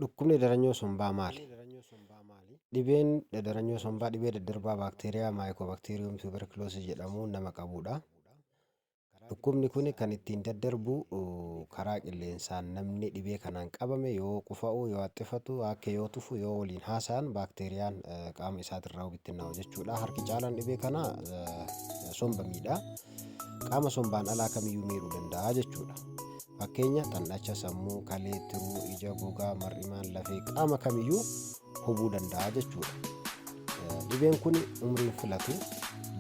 Dhukkubni dadaranyoo sombaa maali? Dhibeen dadaranyoo sombaa dhibee daddarbaa baakteeriyaa maayikoobakteeriyum tuberkuloosis jedhamuun nama qabudha. Dhukkubni kun kan ittiin daddarbu uh, karaa qilleensaan namni dhibee kanaan qabame yoo qufa'u, yoo haxxifatu, akka yoo tufu, yoo waliin haasa'an baakteeriyaan eh, qaama isaatirraa bittinnaa'u jechuudha. Harki caalaan dhibee kanaa eh, somba miidha. Qaama sombaan alaa kamiyyuu miidhuu danda'a jechuudha. Fakkeenya, xan'acha sammuu, kalee, tiruu, ija, gogaa, mar'imaan, lafee, qaama kamiyyuu hubuu danda'a jechuudha. Eh, Dhibeen kun umriin filatu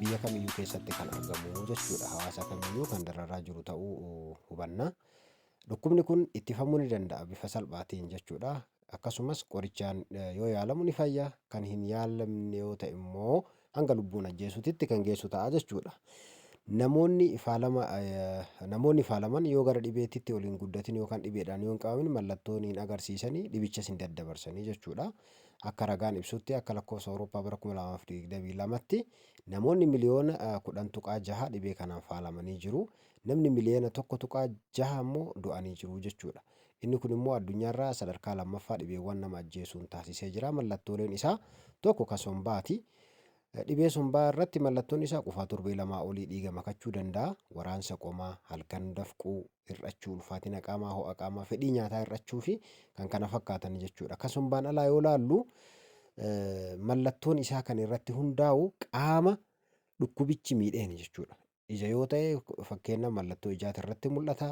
biyya kamiyyuu keessatti kan argamu jechuudha. Hawaasa kamiyyuu kan dararaa jiru ta'uu hubanna. Dhukkubni kun ittifamuu ni danda'a bifa salphaatiin jechuudha. Akkasumas qorichaan yoo yaalamu ni fayya, kan hin yaalamne yoo ta'e immoo hanga lubbuun ajjeesuutitti kan geessu ta'a jechuudha. Namoonni faalama namoonni faalaman yoo gara dhibeetitti ol hin guddatin yookaan dhibeedhaan yoo hin qabamin mallattoon hin agarsiisanii dhibichas hin daddabarsanii jechuudha. Akka ragaan ibsutti akka lakkoofsa Awurooppaa bara 2022tti namoonni miliyoona 10.6 dhibee kanaan faalamanii jiru. Namni miliyoona 1.6 immoo du'anii jiru jechuudha. Inni kun immoo addunyaarraa sadarkaa lammaffaa dhibeewwan nama ajjeesuun taasisee jira. Mallattooleen isaa tokko ka sombaati. Dhibee sombaa irratti mallattoon isaa qufaa torbee lamaa olii dhiiga makachuu danda'a, waraansa qomaa, halkan dafquu, hir'achuu ulfaatina qaamaa, ho'a qaamaa, fedhii nyaataa hir'achuu fi kan kana fakkaatan jechuudha. Ka sombaan alaa yoo laallu mallattoon isaa kan irratti hundaa'u qaama dhukkubichi miidheen jechuudha. ija yoo ta'e fakkeenna mallattoo ijaati irratti mul'ata.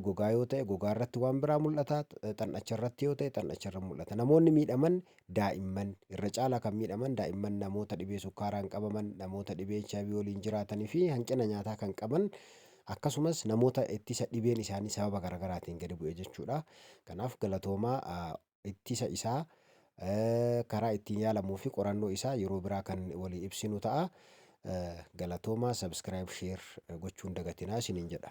Gogaa yoo ta'e gogaa irratti waan biraa mul'ata. Xannacha irratti yoo ta'e xannacha irra mul'ata. Namoonni miidhaman daa'imman irra caalaa kan miidhaman daa'imman namoota dhibee sukkaaraan qabaman, namoota dhibee HIV waliin jiraatanii fi hanqina nyaataa kan qaban akkasumas namoota ittisa dhibeen isaanii sababa garaagaraatiin gadi bu'e jechuudha. Kanaaf galatoomaa ittisa isaa, karaa ittiin yaalamuu fi qorannoo isaa yeroo biraa kan walii ibsinu ta'a. Galatoomaa subscribe share gochuun dagatinaa isiniin jedha.